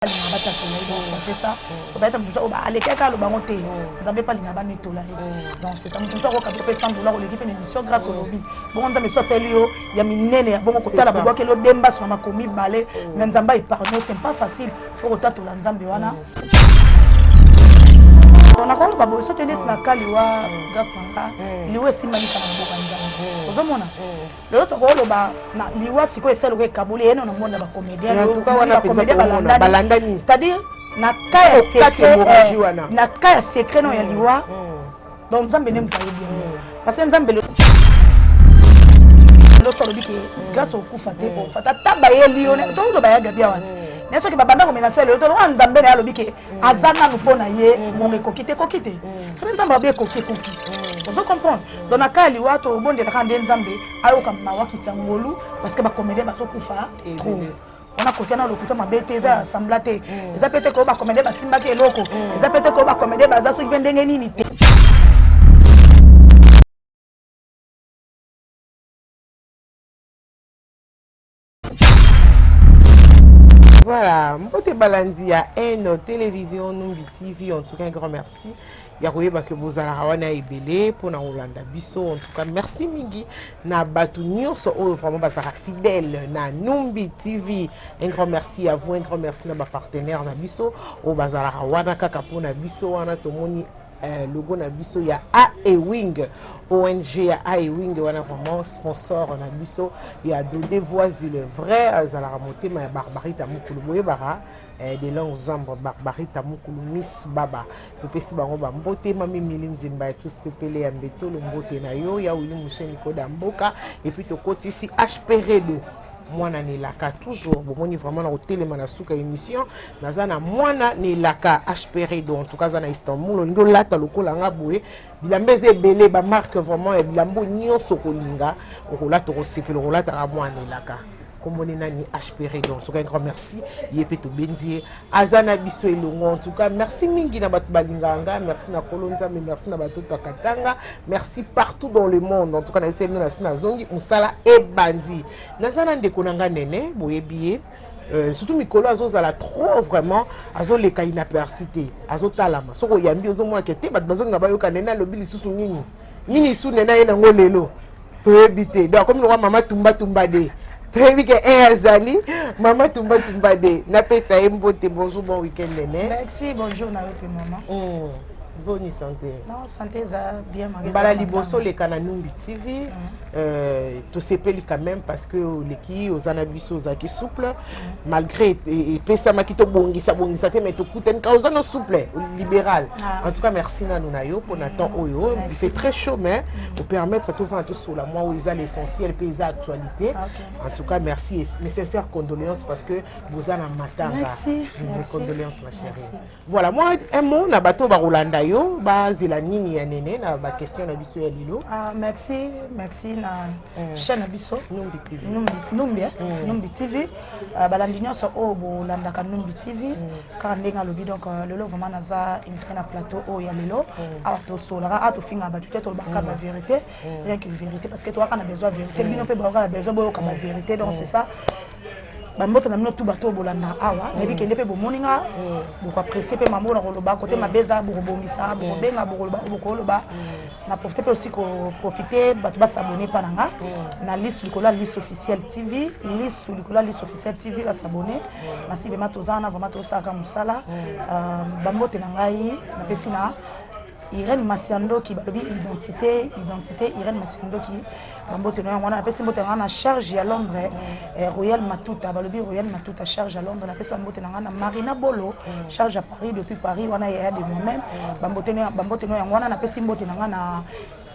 balinga batatela ye donc c'est ça obayeta moto mosusu alekaka aloba yango te nzambe mpe alinga banetola ye donc c'est ça moto mosusu akoka mpe sans dollars oleki mpe na émission grâce olobi bongo nzambe so asali yo ya minene ya bongo kotala babwakeli odemba sona mako mibale mais nzambe aepargne c'est pas facile fo kotatola nzambe wana nakoki baboye soki neti na kaliwa grâce na nga liwa esimbani kaka na boka nzambe ozomona lelo tokoki oloba na liwa sikoyo esali lokola ekaboli ye no na mona bacomédien balandani c'est-à-dire na ka ya secret eh, na ka ya secret no ya liwa mm, mm. donc nzambe nde moto ayebi yango mm. parce que nzambe loso alobi ke grâce okufa te ofata ata bayeli yo toyoloba ya gabi awa te naye soki babanda komenase lelo toloka nzambe na ye alobi ke aza nanu mpo na ye mm. ngonga ekoki te ekoki te mm. soki nzambe abe ekoki ekoki mm. ozo comprendre donc na kaya liwa tobondelaka nde nzambe ayoka mawa kitya ngolu parce que bacomédien bazokufa trop wana kotia na lokuta mabe te eza ya sambla te eza mpe te koyo bacomédien basimbaki eloko eza mpe te koyo bacomédien baza soki mpe ndenge nini te Voilà, mbote balandi ya N Télévision Numbi TV, en tout cas un grand merci. ya koyeba ke bozalaka wana ebele mpona kolanda biso en tout cas merci mingi na bato nyonso oyo vraiment bazalaka fidèle na numbi tv un grand merci à vous un grand merci na bapartenaire na biso oyo bazalaka wana kaka mpona biso wana tomoni eh, logo na biso ya aewing ong ya aewing wana vraiment sponsor na biso ya dode voisi le vrai azalaka motema ya barbarita mokulu boyebaka eh, de long zambre barbarita mokulu miss baba topesi bango bambote mami mili nzemba ya tous pepele ya mbetolo mbote na yo ya wili moshe nikoda mboka epuis tokotisi hp redo mwana na elaka toujours bomoni vraiment na kotelema na suka émission naza na mwana na elaka hpr do en tout cas aza na istanbul olingi olata lokola nga boye bilamba eza ebele bamarke vraiment ya bilamba oyo nyonso okolinga okolata okosepela okolataka mwana na elaka komoni nani hpr do en tout cas un grand merci ye mpe tobendi ye aza na biso elongo en tout cas merci mingi na bato balingaka nga merci na kolo nzambe merci na bato to akatanga merci partout dans le monde en tout cas na eseli na si nazongi mosala ebandi naza na ndeko na nga nene boyebi ye Euh, surtout mikolo azozala trop vraiment azoleka inaperci te azotalama soki oyambi ozomonake te bato bazolinga bayoka nene alobi lisusu nini nini su nene aye nango lelo toyebi te donc akomi lokola mama tumbatumba de toyebi ke e azali mama tumbatumba de napesa ye mbote bonjour bon week-end nene merci bonjour na yo mpe mama mm. boni santé non santé eza bien mbala liboso oleka na numbi tv mm. euh, tosepeli quand même parce que oleki oza na biso ozalaki souple malgré epesamaki tobongisa bongisa te mais tokutani ka oza no souple libéral ah. en tout cas merci nanu na yo mpona temps oyo c'est très chaud mais mm. opermettre tovanda tosola mwa oyo eza l'essentiel mpe eza actualité ah, en tout cas merci nécessaire condoléance parce que boza na matanga mes condoléances ma chérie Voilà, moi, un mot, na bateau Barolanda yo, ba zela nini ya nene, na ba question na biso ya lilo. Ah, merci, merci na mm. chaîne na biso. Numbi TV. Numbi, Numbi, eh? mm. Numbi TV. Uh, balandi nyonso oyo bolandaka Numbi TV. Mm. Kaka ndenge alobi, donc euh, lelo vraiment naza invité na plateau oyo ya lelo. Mm. Awa tosolaka, awa tofingaka bato te, tolobaka mm. ba vérité. mm. rien qu'une vérité parce que toyaka na besoin vérité mm. bino mpe bayoka na besoin boyoka ba mm. vérité donc c'est ça bamboto na bino tu bato oyo bolanda awa nayebi kende mpe bomoni nga bokoapresie mpe mambo na koloba kote mabe eza bokobongisa bokobenga bokoloba bokoloba na profite mpe osi koprofite bato basabone mpa na nga na liste likolo ya liste officielle tv liste likolo ya liste officielle tv basabone masi vraimen toza wana vraimen tosalaka mosala bambote na ngai napesi na Irène Masiandoki balobi identité identité Irène Masiandoki bambote na yango wana napesi mbote na ngai na charge ya Londres eh, Royal Matuta balobi Royal Matuta charge ya Londres napesi bambote na ngai na Marina Bolo charge ya Paris depuis Paris wana yaya de moi-même bambote na yango wana napesi mbote na ngai na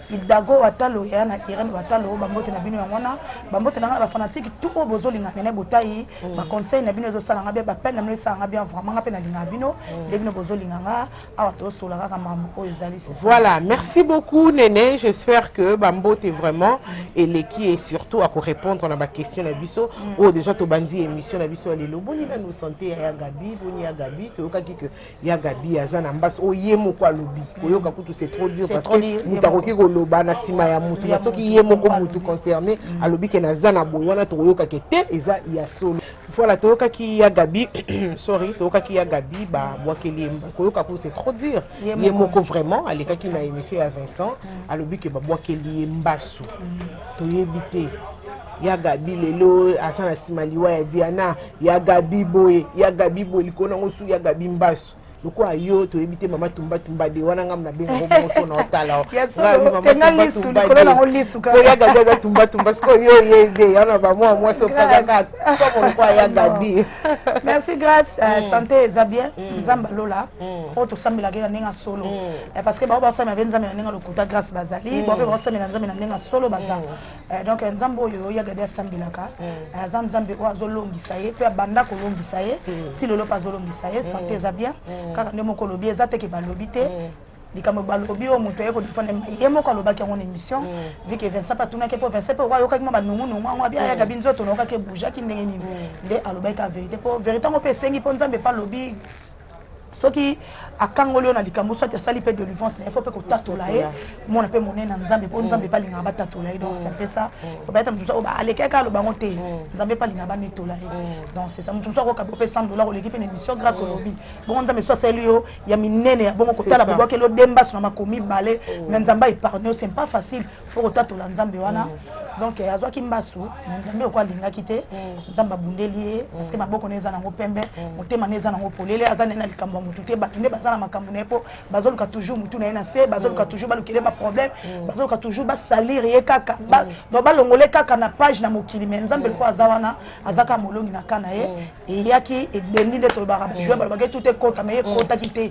idago watalo yaya na irene watalo bambote na bino yango wana bambote na ngai na bafanatike tout oyo bozolinga nene botai mm. baconseil na bino ezosala ngai bien bapele na bino esala ngai bien vraiment ngai mpe nalingaka bino mm. nde bino bozolinga ngai awa tosola kaka makambo oyo ezali voilà merci beaucoup nene j'espère que bambote vraiment eleki et surtout akorépondre na baquestion na biso mm. oyo oh, déjà tobandi émission na biso ya lelo boni nanu sante ya gabi boni ya gabi toyokaki que ya gabi aza na mbasi oyo oh, ye moko alobi mm. koyoka kutu c'est trop dur parce que moto akoki koloba na nsima ya motu na soki ye moko motu concerné mm. alobi ke naza na boye wana tokoyokake te eza ya solo Voilà, toyoka ki ya Gabi, sorry, toyoka ki ya Gabi, ba bwakeli ye koyoka ko c'est trop dire. Ye moko vraiment alekaki na émission ya Vincent, mm. alobi ke ba bwakeli ye mbasu. Mm. Toyebi te. ya gabi lelo aza na nsima liwa ya diana ya gabi boye ya gabi boye likolo yango su ya gabi mbasu lokola yo toyebi te mama tumba tumba de wana ngambo na benga boboso na otala oya gabi aza tumba tumba sikoyo yo ye de yana bamwa mwasi opazaka somo lokola ya gabi merci grace euh, mm. santé eza bien mm. nzambe alola mm. oyo tosambelaki na ndenge ya solo euh, parce que bao basamela mpe nzambe na ndenge ya lokuta grace bazali bao mpe baosamela nzambe na ndenge ya solo baza Eh, donc eh, nzambe oyo oyo agadi asambelaka mm. eh, aza nzambe oyo azolongisa ye mpe abanda kolongisa ye mm. ti lelo mpe azolongisa ye mm. sante eza bien kaka nde moko olobi eza teke balobi te likambo balobi oyo moto aye kodefendre ye moko alobaki yango na émission vu que vincent mpe atunaki mpo vincent mpe ayokaki mwa banungunungu yango abi ayaka bi nzoto naokaki ebougeaki ndenge nini nde alobaki ka vérité mpo vérité yango mpe esengi mpo nzambe mpe alobi soki akangoli yo na likambo soit asali mpe delivrance na ye fo mpe kotatola ye mona mpe monene na nzambe mpo nzambe mpe alingaka batatola ye donc c'est ça obayata moto mosusu alekaki aloba yango te nzambe mpe alingaka banetola ye donc c'est ça moto mosusu akoka bope 100 dollar oleki mpe na émission grâce olobi bongo nzambe so asali yo ya minene ya bongo kotala bobwakeli odembaso na makomi bale mais nzambe aepargne yo c'est pas facile fo kotatola nzambe wana mm. donc eh, azwaki mbasu na nzambe lokola alingaki te mm. nzambe abundeli ye mm. parceke maboko na eza nango pembe motema na eza nango polele aza naye na likambo ya motu te bato nde baza na makambo na ye mpo bazoluka toujours motu na ye na se bazoluka toujours balukele baproblème bazoluka toujours basalir ye kaka donc balongole kaka na page na mokili mai nzambe lokola aza wana azaka molongi na ka na ye eyaki ebendi nde tolobaka mm. bajoueur balobaki tout ekota mai mm. ekotaki te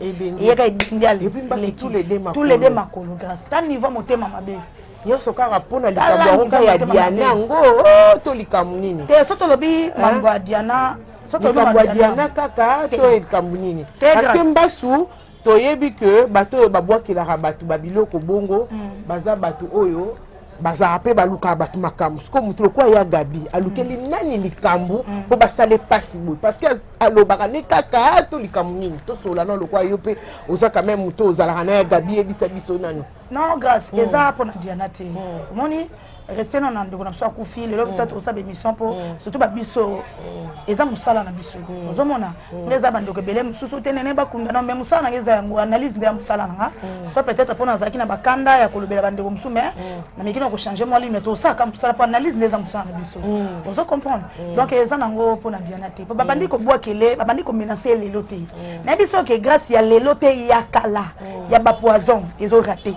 eyaka ebendi alekitous les deux makolo grâce ta niveau motema mabe nyonso kaka mpo na likambo yango kaka ya diana yango oh, to likambo nini te so tolobi mambo ya diana likambo ya diana kaka to likambo nini parceke mbasu toyebi ke bato oyo babwakelaka bato babiloko bongo mm. baza bato oyo bazalaka mpe balukaka bato makambo sikoyo moto lokola ya gabi alukeli mm. nani likambo mm. mpo basala epasi boye parce que alobaka ne kaka ah, to likambo nini tosolola na lokola yo mpe oza quand même moto ozalaka na ya gabi yebisa biso nano non grâce mm. eza pona diana te mm. omoni respect na na ndeko na biso akufi lelo mm. peut-être osala émission mpo mm. surtout babiso mm. eza mosala na biso mm. ozomona mm. nga eza bandeko ebele mosusu te nene bakunda na me mosala nanga eza yango analyse nde ya mosala nanga mm. soit peut-être mpo nazalaki na bakanda ya kolobela bandeko mosusu mais mm. nameki na kochange mwa lime tosalaka mosala mpo analyse nde eza mosala na biso mm. ozo comprendre mm. donc eza nango mpo na diana te mpo babandi mm. kobwakele babandi komenase lelo te mm. nayebi soki grâce ya lelo te ya kala ya ba poison ezo rate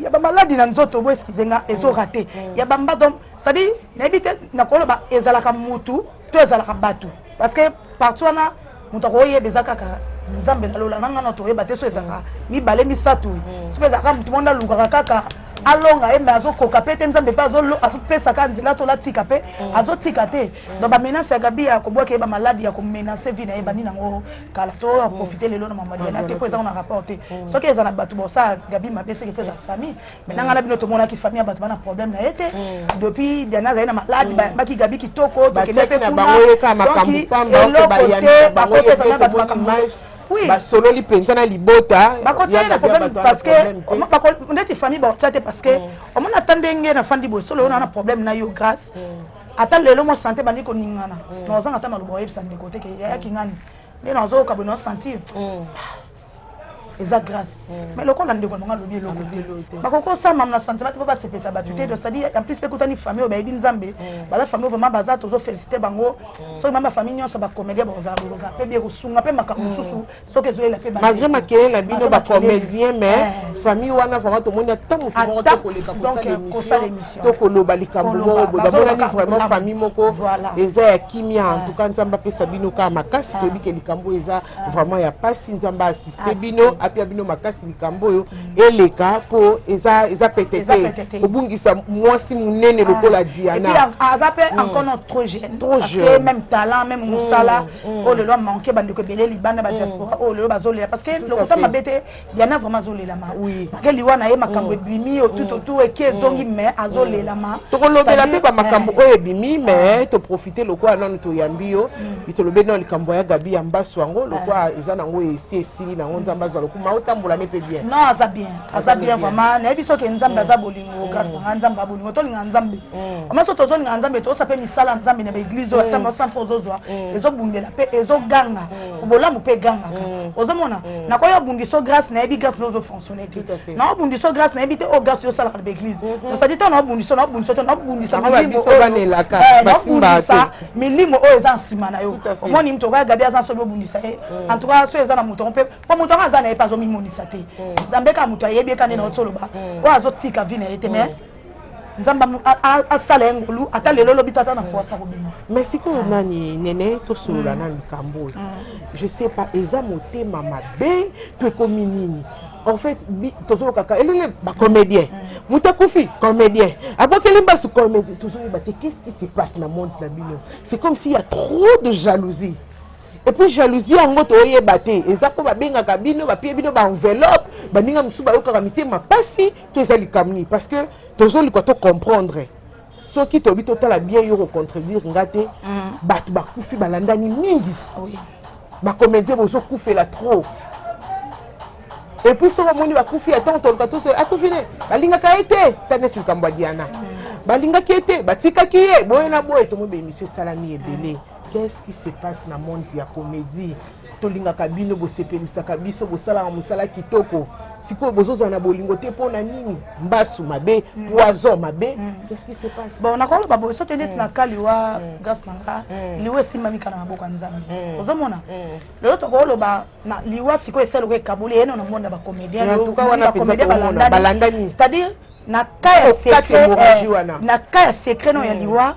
ya ba maladi na nzoto bo excuse nga ezo rate ya ba mba donc c'est à dire nayebi te nakoloba ezalaka mutu to ezalaka batu parce que partout wana moto akoyeba eza kaka nzambe na lola nanga na toyeba te so ezalaka mibale misato mm. soki ezalaka moto mwana alukaka kaka alonga ye me azokoka mpe te nzambe mpe azopesa kaka nzela to latika mpe mm. azotika te mm. donc bamenase ya gabi ya kobwaka ye bamaladi ya komenase vi na ye bani nango kala to a mm. profiter lelo na mama Diana te ko eza na rapport te mm. soki eza na bato bosa Gabi mabe seke feza mm. famille mais nanga na bino to mona ki famille bato bana problème na ete depuis Diana azali na malade ba ki Gabi kitoko to kende pe kuna bango yeka makambo pamba ko ba yanda bango se fana bato makambo oui. basololi mpenza na libota bakotiana na problème parce que ndeti famille bakotia te parce que omona ata ndenge nafandi boye solo oyo na na problème na yo grâce ata lelo mwa sante bandi koningana mm. na ozanga ata maloba oyebisa ndeko te ke yayaki mm. ngani nde na ozoyoka boye na osentir mm. eza grâce mais lokola ndeko nanga alobi eloko te bakoki osamama na sentiment te mpo basepesa bato te cestadi en plus mpe ekutani famille oyo bayebi nzambe baza famille oyo vraiment baza tozo félicité bango soki mama bafamille nyonso bacomédien bakozala bokozala mpe bie kosunga mpe makambo mosusu soki ezoyela mpe malgré makele na bino bacomédien mais eh. famille wana vraiment tomoni ata motu moko tokoleka kosala émission tokoloba likambo moko boye bamonani vraiment famille moko eza ya kimia en eh. tout cas nzambe apesa bino kaka makasi eh. toyebi ke likambo oyo eza vraiment ya mpasi nzambe asiste bino apia bino makasi likambo oyo mm. eleka mpo eza eza pete te kobungisa mwasi monene lokola diana aza mpe mm. encore non trop jeune trop jeune même talent même mosala mm. mm. oyo lelo amanke bandeko ebele libanda ba mm. diaspora oyo lelo bazolela parce que lokuta mabe te diana vraiment azolelama make liwa na ye makambo mm. ebimi otutotu eke ezongi mais azolelama tokolobela mpe bamakambo eh. oyo ebimi mais ah. toprofite lokola nanu toyambi yo itolobeli nao likambo ya gabi ya mbaso yango lokola ah. eza nango esi esili nango nzambe azwa lokuma otambola ne mpe bien non aza bien aza bien vraiment nayebi soki nzambe aza bolingo kasi nanga nzambe abolingo tolinga nzambe mm. maso tozolinga nzambe toyosa mpe misala nzambe na baeglize oyo ata basanfa mm. ozozwa mm. ezobundela mpe ezoganga bolamu mpe egangaka ozomona nakoyi obundiso grace nayebi grace naozo fonctionne te naobundiso grace nayebi te oyo oh, grace yosalaka na baeglize mm-hmm. osadi ntango naobundiso naobundisa te naobundisa milimo oyo eza nsima na yo omoni moto okoya gabi aza soki obundisa ye en tout cas soki eza na moto yango mpe mpo moto yango aza na ye mpe azomimonisa te nzambe kaka moto ayebi ye kani na yo toloba oyo azotika vi na ye te mais nzambe asala ye ngolu ata lelo lobi tata na poasa kobima mais sikoyo nani nene tosolola mm. na likambo oyo mm. je sais pas eza motema mabe to ekomi nini en fait tozolokaka elele bacomédien mm. moto akufi comédien abokeli mbasu comédien tozoyeba te qu'est ce qui se passe na monde na bino c'est comme s'il y a trop de jalousie epuis jalousie yango toyeba te eza mpo babengaka bino bapie bino baenveloppe baninga mosusu bayokaka mitema mpasi to eza likambo nini parce que tozoluka to comprendre soki toyebi totala bien yo kocontredire nga te mm. bato bakufi balandani mingi bacomédien bozokufela trop epuis soki omoni bakufi ya ntango toluka toso akufi ne balingaka ye te tanesi likambo ya diana mm. balingaki ye te batikaki ye boye na boye tomoi baemission esalami ebele qu'est-ce qui se passe na monde ya comédie tolingaka bino bosepelisaka biso bosalaka mosala kitoko sikoyo bozozala na bolingo te mpo na nini mbasu mabe mm. poison mabe mm. qu'est-ce qui se passe bon nakoloba boye soki neti mm. na ka liwa grâce na nga liwa esimbami kala maboko ya nzambe ozomona lelo tokoloba na liwa sikoyo esali lokola ekaboli yeno na monde ya bacomédien bacomédien balandani c'est-à-dire na ka ya secret eh, na ka ya secret no ya liwa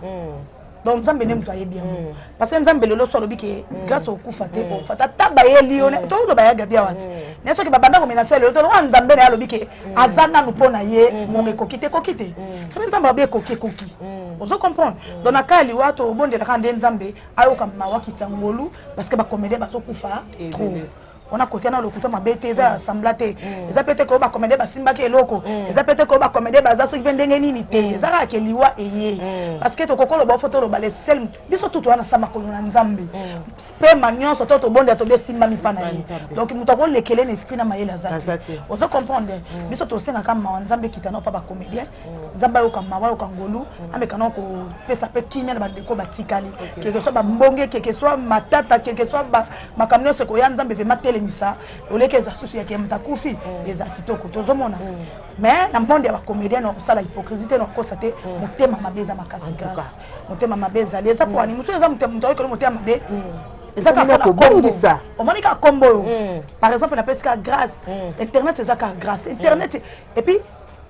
donc nzambe nde moto ayebi yango mm. parce que nzambe lelo so alobi ke mm. grâce okufa te mm. ofata ata bayeli yo toloba ya gabi awa ti na soki babanda komenase lelo toloba nzambe na ye alobi ke aza nanu mpo na ye mm-hmm. momo ekoki te ekoki te soki nzambe alobi ekoki ekoki ozo comprendre donc na kaya liwa tobondelaka nde nzambe ayoka mawa kitya ngolu parce que bacomédien bazokufa trop wana kotia na lokuta mabe te eza mm. sambla te mm. eza mpe te koyo bakomede basimbaki eloko mm. eza mpe te koyo bakomede baza soki mpe ndenge nini te eza kaka ke liwa eye parceke tokoki oloba ofo toloba le sel biso tutu wana sa makolo na nzambe spema nyonso to tobondela tobi esimbami mpa na ye donc moto akolekele na esprit na mayele aza te ozo comprendre biso tosengaka mawa nzambe ekita na mpa bacomédien nzambe ayoka mawa ayoka ngolu ameka nao kopesa mpe kimia na bandeko batikali keke soit bambonge keke soit matata keke soit makambo nyonso ekoya nzambe vraimen telemisa oleki eza susu yake moto akufi mm. eza kitoko tozomona mm. mais na monde ya bacomédien na kosala hypocrisie te na kokosa te mm. motema mabe eza makasi grâce motema mabe ezali eza mpo ani mosusu eza moto ayokeli motema mabe eza kaka kobongisa omoni kaka kombo oyo par exemple napesi kaka grâce internet eza kaka grâce internet epuis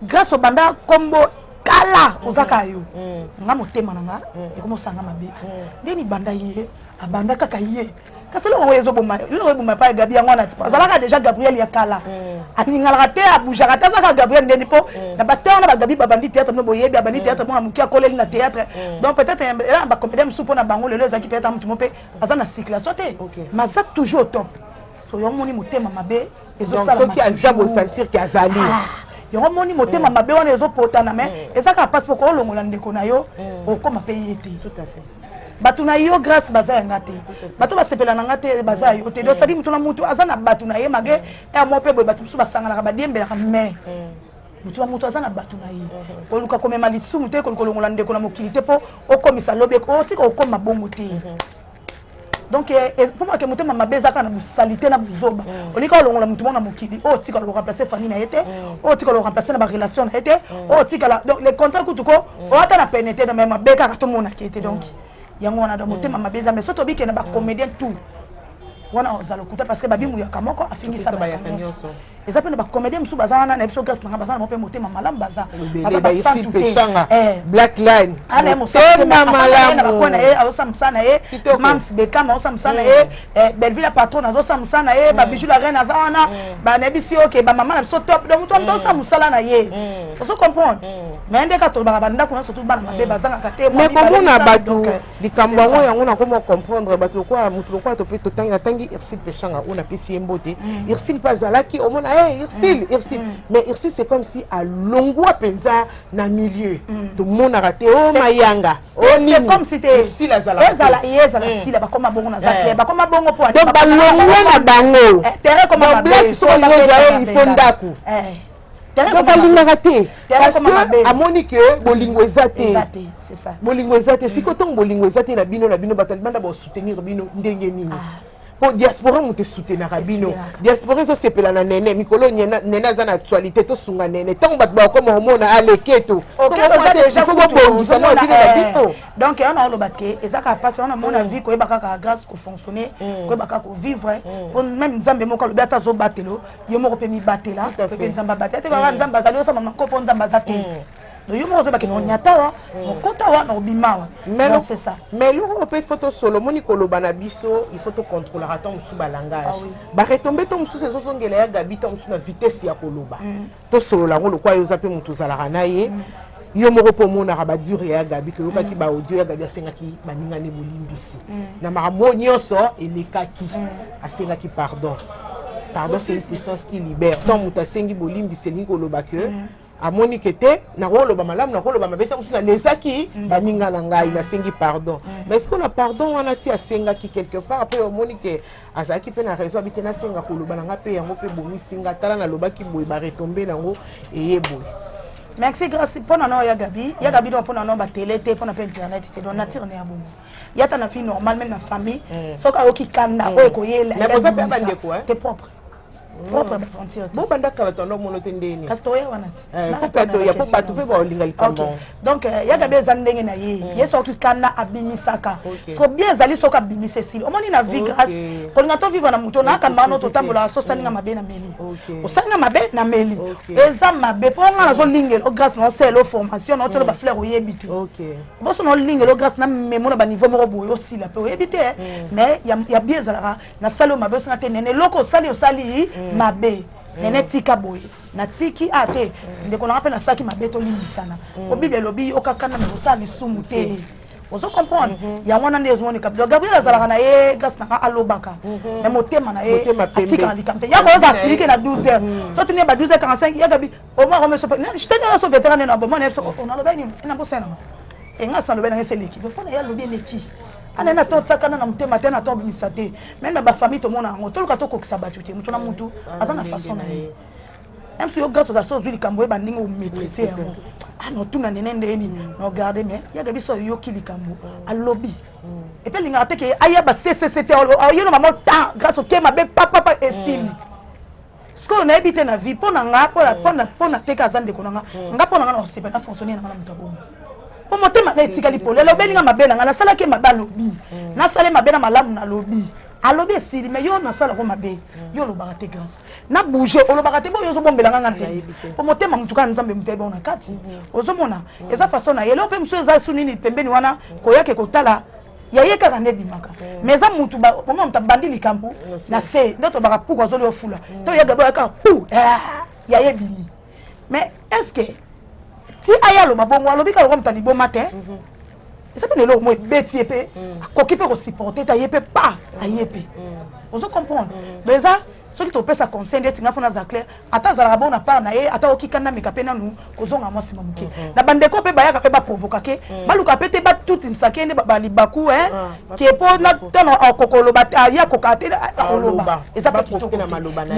Grace obanda kombo kala oza kaka yo. Mm. Nga motema na nga mm. ekoma osanga mabe. Mm. Nde libanda ye abanda kaka ye. kasi eloko oyo ezoboma eloko eboma epai ya gabi yango wana ti azalaka déjà gabriel ya kala mm. aningalaka te aboujaka te azalaka gabriel ndeni mpo mm. na bateur na bagabi babandi théâtre mino boyebi abandi mm. théâtre mona moke akoleli na théâtre donc peut-être ela na bacomédien mosusu mpo na bango lelo ezalaki peut-être motu mo mpe aza na circulation te maza toujours au top so yo omoni motema mabe soki aza bosentir ke azali ah, yango moni motema mm. mabe wana ezopotana me mm. eza kaka mpasi poko olongola ndeko na yo mm. okoma mpe ye te bato na yo grâce baza ya nga te bato basepela na nga te baza ya yo te dosali motu na motu aza na bato na ye mage ya mwa mpe boye bato mosusu basanganaka badiembelaka mai moto na moto aza na bato na ye mhm. koluka komema lisumu te koluka olongola ndeko na mokili te mpo okomisa lobi otika okoma bongo te mhm. donc eh, eh, mpo maka motema mabe ezaka na bosalite na buzoba mm. olika olongola motu moko na mokili oyo oh, otikala koremplace famille na ye te oyo mm. oh, otikala koremplace na barelation na ye te oyo mm. oh, otikala donc le contrat kutu ko oata na pene te me mabe kaka tomonaka ye te donc yango wana donc motema mabe eza mais so tobike na bacomédien tout wana ozala okuta parce que babimuyaka moko afingisa bato nyonso eza mpe na bacomédien mosusu baza wana na biso gase nanga baza na moko mpe motema malamu baza bazapesanga eh. black line ana ah, motema malamu na ye azosa mosala na ye mams bekama azosa mosala na ye mm. eh, belleville ya patron azosa mosala na ye mm. babiju la reine aza wana mm. banayebisi yo ke bamama na biso top donc moto moto azosa mosala na ye ozo comprendre mais nde kaka tolobaka bandako nyonso tu bana mabe bazangaka te mais komona bato likambo yango yango nakoma comprendre bato lokola moto lokola tope totangi natangi ursil peshanga oyo napesi ye mbote mm. ursil mpe azalaki omona e eh, ursil mm. ursil mm. mais ursil c'est comme si alongwa mpenza na milieu tomonaka te o oh, mayanga o oh, niniursil azalakaezala ye ezala sila bakoma bongo naza eh. clair bakoma bongo mpo donc balongwe na bango eh, black sokoyozaye ifo ndako donc alingaka te parce que amoni ke bolingo eza te bolingo eza te sikoyo ntango bolingo eza te na bino na bino bato alibanda basoutenir bino ndenge nini ah. mpo diaspora moto esoutenaka bino diaspora ezosepela na nene mikolo nene aza na actualité tosunga nene ntango bato bakoma komona aleketo fo bobongisa mwa bino na bino eh, donc yango naoloba te eza kaka mpasi yango namona mm. vie koyeba kaka grâce kofonctionne mm. koyeba kaka kovivre mpo mm. meme nzambe moko alobi ata azobatelo yo moko mpe mibatela mpe nzambe abatela te kaka mm. nzambe azali osamba mako mpo nzambe aza te mm. do yo moko ozobaki nonyata wa nokota mm. wa nobima wa ça mais eloko oyo mpe foto solo omoni koloba na biso il faut tocontrolaka ntango mosusu balangage ah baretombe ntango mosusu ezozongela ya gabi ntango mosusu na vitesse ya koloba tosolola yango lokwa yo oza mpe moto ozalaka na ye yo moko mpo omonaka badure ya gabi toyokaki mm. baaudio ya gabi asengaki baninga nde bolimbisi mm. na makambo oyo nyonso elekaki mm. asengaki pardon pardon c'est une puissance qui libère ntango moto asengi bolimbisi elingi koloba ke mm. amoni ke te nakoloba malamu nakoloba mabe ntango mosusu nalesaki mm. baninga na ngai nasengi pardon mm. mais sikoyo na pardon wana ti asengaki quelque part mpo omoni ke azalaki mpe na raison abi te nasenga koloba na ngai mpe yango mpe ebomisi ngai tala nalobaki boye baretombe na yango eye boye merci grace mpo na nao ya gabi ya gabi donc mpo na nao batele te mpo na mpe internet te donc nature na ya bongo yata na vie normale meme na famille mm. soki ayoki kanda mm. oyo ekoyela te propre propre ba frontière bo banda kala tondo mono te ndeni kasi toya wana te eh, faut pas toya po bato pe baolinga likambo donc euh, yaka be eza ndenge na ye mm. ye soki kanda abimisaka so bien ezali soki abimisa esili omoni na vie grâce kolinga to vivre na moto nakamba no totambolaka so osalinga mm. mabe na meli osalinga mabe na meli eza mabe mpo nga nazolingela o grâce na osele o formation na otolo mm. bafleur oyebi te boso na olingela o grâce na memo na baniveau moko boye osila mpe oyebi te mais ya bien ezalaka nasali yo mabe osinga te nene eloko osali osali mm. mabe mm. nene tika boye natiki a ah, te mm. ndeko nanga mpe nasalaki mabe tolimbisana po bible elobi yokakana na kosala lisumu te ozo comprendre mhm. yango wana nde ezomoni kabila gabriel azalaka na ye gasi nanga alobaka mhm. na motema na ye atikaka likambo te yako oza asilike na 12 heures mhm. soki ne ba 12 heures 45 yagabi omwa kome sope sitani oyo so veteran neno aboma na ye biso onaloba nini ena bosana ngo enga sa loba na ye se leki donc pona ye alobi eleki ana na to tsakana na motema te na to bimisa te même na ba famille to mona ngo toluka to kokisa batu te mutu na mutu aza na façon na ye même si yo grâce oza so ozwi likambo ye bandenge omaîtrise yango ano tuna nene nde nini na ogarde mais yaka biso ayoki likambo alobi epe alingaka te ke ayeba ccct ayelo mama temps grâce oke mabe papapa esili sikoyo nayebi te na vie mpo na nga mpo na teka aza ndeko na nga mm. nga mpo na nga na kosepa na fonctionne na nga na moto ya bongo mpo motema na etikali pole alobeli nga mabe na nga nasalaki mabe alobi mm. nasali mabe na malamu nalobi alobi esili me yo nasalako mabe mm. yo olobaka te grâce na bouge olobaka te boyo ozobombela nga nga te mpo motema motu kaka nzambe moto ayebao na kati ozomona eza façon na ye leo mpe mosusu eza su nini pembeni wana koyake kotala ya ye kaka nde ebimaka mm. mais eza mutu omona moto abandi likambo na se nde tobaka puku azoli ofula mm. to yaga boya kaka pu ah, ya ye bimi mais est ce que ti aya aloba bongo alobi kaka lokola moto aliboma te mhm. eza mpe lelo omo ebeti ye mpe mm. akoki mpe kosupporte te aye mpe pa aye mpe ozo comprendre donc eza soki topesa conseil ndeti nga mpo naza claire ata azalaka bongo na part na ye ata oki kanda meka mpe nanu kozonga mwa nsima moke mhm. na bandeko mpe bayaka mpe baprovoka ke mhm. baluka mpe te batutinisa ke nde balibaku ah, ke mpo na ntango akokoloba te aya kokaa te akoloba eza mpe kitoko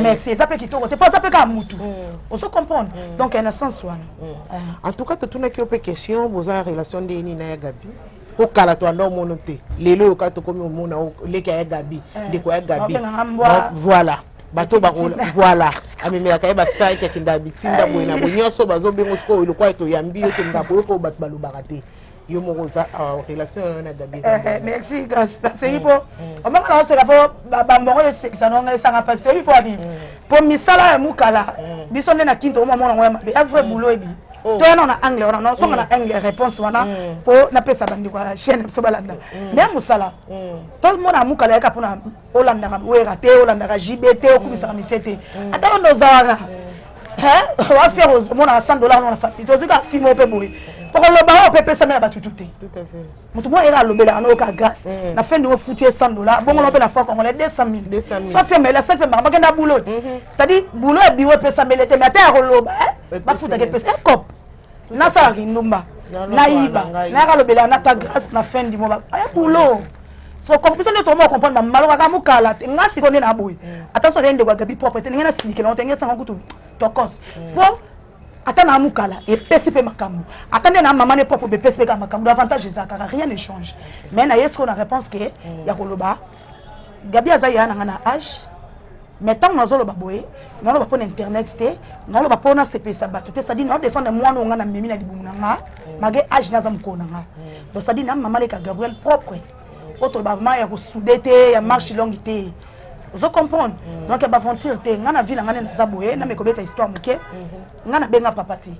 merci eza mpe kitoko te mpo aza mpe kaka mutu mhm. ozo comprendre donc na sens wana en tout cas totunaki yo mpe question boza relation nde nini na ya gabi mpo kala to anda omono te lelo oyoka tokomi omona leki ya ya gabi eh. ndeko ya gabi voilà bato bakola voilà amemelaka ye basaki akenda bitinda boye na boye nyonso bazobengo sikoyo lokola toyambi yo tolinga boyoka oyo bato balobaka te yo moko oza ah, relation yo na gabi eh, eh, merci grâce nasengi mpo mm, mm. omakala oseka mpo bambongo esekisa nonga esanga mpasi toyebi mpo ani mm. mpo misala ya mukala biso nde na kinto omamona yango ya mabe ya vrai boulot ebi oh. to yana na angle wana nosonga na angle réponse wana mpo napesa bandeko ya chaîne biso balanda mais ya mosala tomona mukala yaka mpona olandaka wera te olandaka jb te okumisaka mm. mise te mm. ata banda ozalaka mm. wafere omonaka 100 dollar nona facilité ozwi kaka fimo mpe boye okoloba oyo mpe epesami na batutu te moto moko ere alobelaka na oyoka grâce na fin ndingo futi ye 100 dollar bongola mpe na fois congolais 200 mille soit fia maele asaki mpe makambo akenda boulot te c'est à dire boulot ya biro epesamele te mais ata ya koloba bafutaka epesa ekop nasala kindumba nayiba nayaka lobela na ta grâce na fin du mois aya boulot so compris nde toma comprendre mamalo kaka mokala te nga siko nde na boye mm. ata soki ndeko ya gabi propre te ndenge nasilikela te ndenge sanga kutu tokos mm. po ata na mokala epesi mpe makambo ata nde na mama ne propre bepesi mpe kaka makambo avantage ezalaka rien ne change mais na ye sikoyo na réponse ke mm. ya koloba gabi aza yaya na nga na age mais ntango nazoloba boye naloba mpo na internet te naloba mpo nasepelisa bato te sadi naodefendre mwana oyo nga na memi na libumu na nga mage age naza mokolo na nga donc sadi na mama leka gabriel propre oyo toloba ma ya kosude te ya marche longue te ozo comprendre mm. donc ya baventure te nga na vie na nga nde naza boye na mekobeta histoire moke mm-hmm. nga nabenga papa te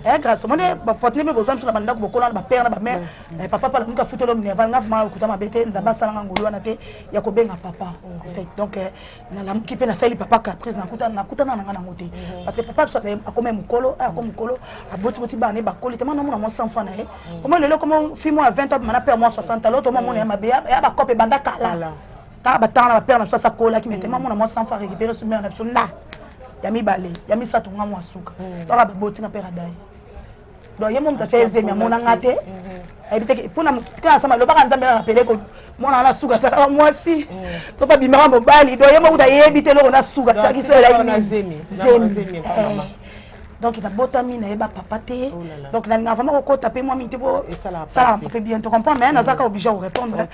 eh, grâce omoni bapartene mpe bozwa biso na bandako bokola na bapere na bamare Eh, papa pala muka futolo mne avanga vraiment okuta mabe te nzambe asala nga ngolu wana te ya kobenga papa en fait donc eh, nalamuki mpe nasali papa caprice nakutana nakutana na nga nango te mhm. parce que papa biso azali akoma mokolo eh, akoma mokolo abotiboti bana ye bakoli te mana omona mwa 100 franc na ye mhm. omo lelo koma fi mwa ya 20 abima na mpe ya mwa 60 aloto omwa mona ya mabe ya bakope ebanda kala kaka batanga na bapere na biso asakolaki mete mwa mona mwa 100 franc récupéré so mare na biso nda ya mibale ya misato nga mwa suka toka baboti na mpe radaye donc ye mo moto atya ezemi amona nga te mm-hmm. ayebi te mpona motika na sama elobaka nzambe kaka pele mwana wana suka asaka mwasi mm. soki abimaka mobali donc ye mo kuta ayebi te eloko na suka tiaki so elai zemi donc nabotami nayeba papa te oh donc nalinga vraiment kokota mpe mwa mingi te po salaka mpe bien to comprend mais nazaka mm. obligé korépondre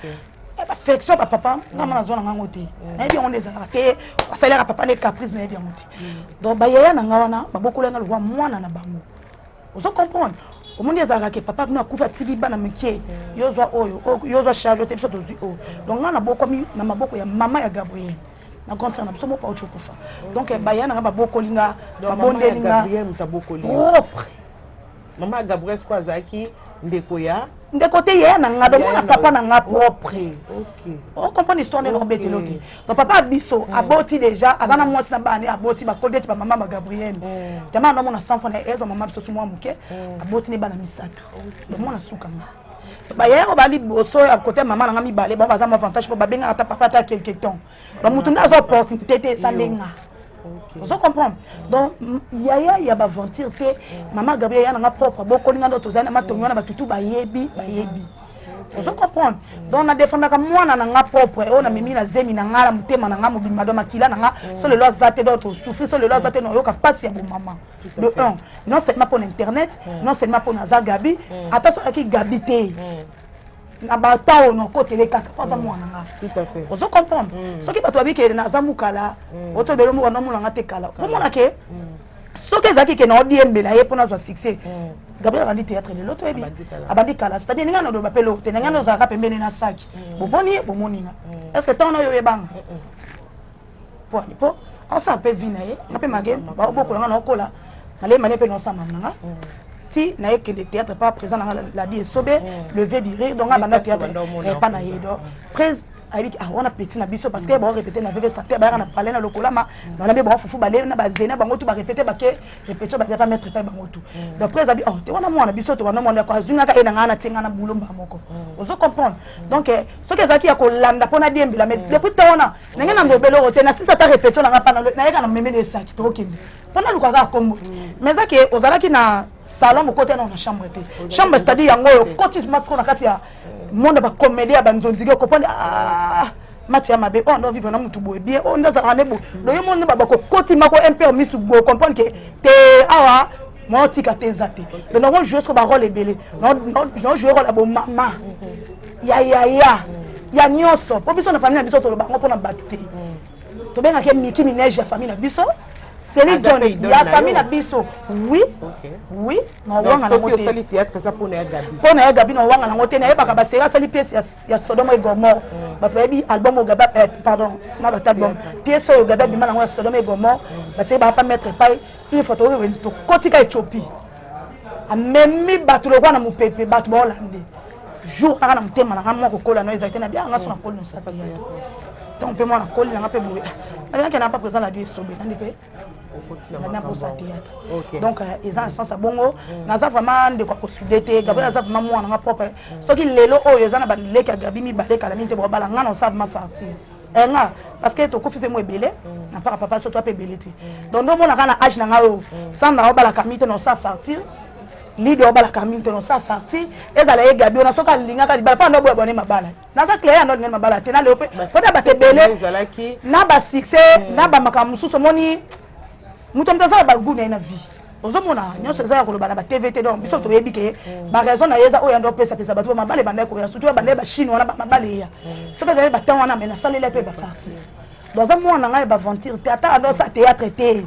affection ba papa nga mwana azwa na ngango te mm. nayebi yango nde ezalaka te basalelaka papa nde caprice nayebi yango te mm. donc bayaya na nga wana babokola nga lokwa mwana na bango ozo comprendre omoni ezalaka ke papa bino akufi atili bana mike mm. yo ozwa oyo oh, yo ozwa charge te biso tozwi oyo oh. donc ngai nabokwami na maboko ya mama ya gabriel na grande sœur na biso moko auti okufa donc eh, baya na ngai babokoli nga babondeli nga propre mama ya gabriel siko azalaki ndeko ya ndeko te yaya na nga domona papa na nga propre ocomprendre histoire ndenge nakobetela te donc papa biso mm. aboti déjà aza na mm. mwasi na bana aboti bakodi ete bamama ba gabriel jama mm. namona sanfo na ezwa mama biso simwa moke aboti ne bana misato domona suka nga baye oyo baliboso ya kote mama na nga mibale bango baza mavantage mpo babengaka ata papa ata quelque temps bamoto nde aza opportunité te eza ndenge nga ozo comprendre donc yaya ya baventure te mama gabriel ya nanga propre bokoli nga ndo tozali na matongi wana batutu bayebi bayebi ozo comprendre donc na defendaka mwana na nga propre oyo namemi na zemi na nga na motema na nga mobimba do makila na nga so lelo aza te do tosouffri so lelo aza te nayoka mpasi ya bomama de un non seulement mpo na internet non seulement mpo na aza gabi ata so ayaki gabi te na batemp oyo nakotela ye kaka mpo aza mwana nga ozo comprendre mm. soki bato babikele naza mokala mm. otobele mboka nomona nga te kala omona ke mm. soki ezalaki ke naodiembela ye mpo nazwa succès gabriel abandi théâtre lelo toyebi abandi kala c'est à dire ninga naloba mpe lote na ngai ozalaka pembeni na saki bomoni ye bomoni nga est ce que ntango nayo oyebanga po po aosala mpe vi na ye nga mpe mage baobokola nga naokola nalei mane mpe naosamba na nga mm. ti naye kende théâtre pa présent na nga ladi esobe mm. le vieux du rire donc nga banda théâtre epa na ye donc prise ayebiki ah wana petit na biso parce que mm. barépété na veve sante bayaka na palais na lokolama wana mpe bafufu bale na bazena bango tu barépété bake répétio bazali pa maître epai bango tu donc prise abi oh te wana mwana biso to wana mwana azwi ngaka ye na ngai natie ngai na boulomba moko ozo comprendre donc eh, soki ezalaki ya kolanda mpo na diembela mais depuis ta wana nanga na ngobele oyo te na sisa ata repetio nanga pana nayeka na memeli esaki tokokende mpona lukaka akombo mais eza ke ozalaki na salon moko te nao na chambre te chambre c'est-à-dire yango oyo koti masiko na kati ya monde bakomedi ya banzonziki okoponi ah, mati ya mabe oyo oh, ndo vivre na motu boye bien oyo oh, nde azalaka nde boye loye mm. moni bakokoti mako impere misu boye comprendre ke te awa mwaotika te eza te donc nango joue soko barole ebele naojoue role ya bomama mm-hmm. ya yaya ya nyonso mpo biso na famille na biso toloba yango mpona bato te tobengaka ye miki minege ya famille na biso Céline John ya famille na biso oui oui na owanga nango te osali théâtre eza mpo na ya Gabi mpo na ya Gabi na owanga nango te nayebaka baseri asali pièce ya Sodome et Gomorre mm. bato bayebi album oyo Gabi eh, pardon na bato album pièce oyo Gabi abima nango ya Sodome et Gomorre mm. baseri baka pa mettre epai une fois tokoki kokotika Ethiopie amemi bato lokola na mopepe bato baolande jour kaka na motema na nga mwa kokola na ezali te na bianga so nakoli nosasa yaya ntango mpe mwana koli na nga mpe boye nabinaki na mpa présent na di esobe nandi mpe nabosa teyata donc euh, eza na sens ya bongo mm. naza vraiment ndeko ya kosude te gabriel mm. aza vraiment mwana na nga propre mm. soki lelo oyo eza na baleki ya gabi mibale kala mingi te bokabala nga na osa vraiment fartir eh, nga parce que tokufi mpe mo ebele na mpaka papa so to ape ebele te donc ndomonaka na age na nga oyo sanda obalaka mi te na osa fartir lido abalaka mingi te nosa farti ezala ye gabi ona soki alingaka libala mpo ando boya bone mabala naza claire ando alingani mabala te na leo mpe kota bato ebele na basuccès hmm. na bamakambo mosusu omoni moto moto aza na bagu na ye na vie ozomona nyonso eza ya koloba na batv te donc biso hmm. toyebi ke hmm. baraison na ye eza oyo yande opesapesa bato bamabala ebanda koya surtout ya banda ya bachine wana bamabala eya soki ezali batemp wana me nasaleli mpe bafarti donc aza mwana ngai ya baventure te ata ando asa théâtre te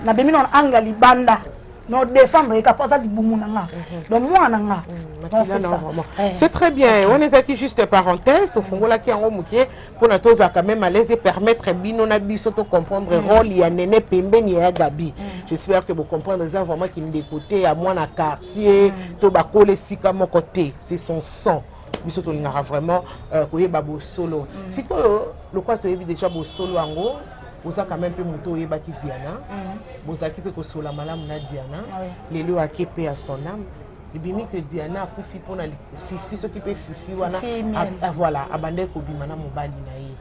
nabimi na angle ya libanda non défendre ye kapa aza libumu na nga mhm. donc mwana na nga mhm, eh. c'est très bien wana ezalaki juste parenthèse tofungolaki yango moke mpona tozalaka même alaise epermettre bino na biso tocomprendre mhm. role ya nene pembeni ya gabi j'espère que bocomprendre eza vraiment kindeko te ya mwana quartier to bakola esika moko te c'est son sang biso tolingaka vraiment euh, koyeba bosolo sikoyo lokola toyebi déjà bosolo yango oza quand même mpe moto oyebaki diana mm. bozalaki mpe kosola malamu na diana ah lelo oyo ake mpe ya son ame ebimi ke diana akufi mpona fifi soki mpe fifi wana ah, voilà abandaki kobima na mobali na ye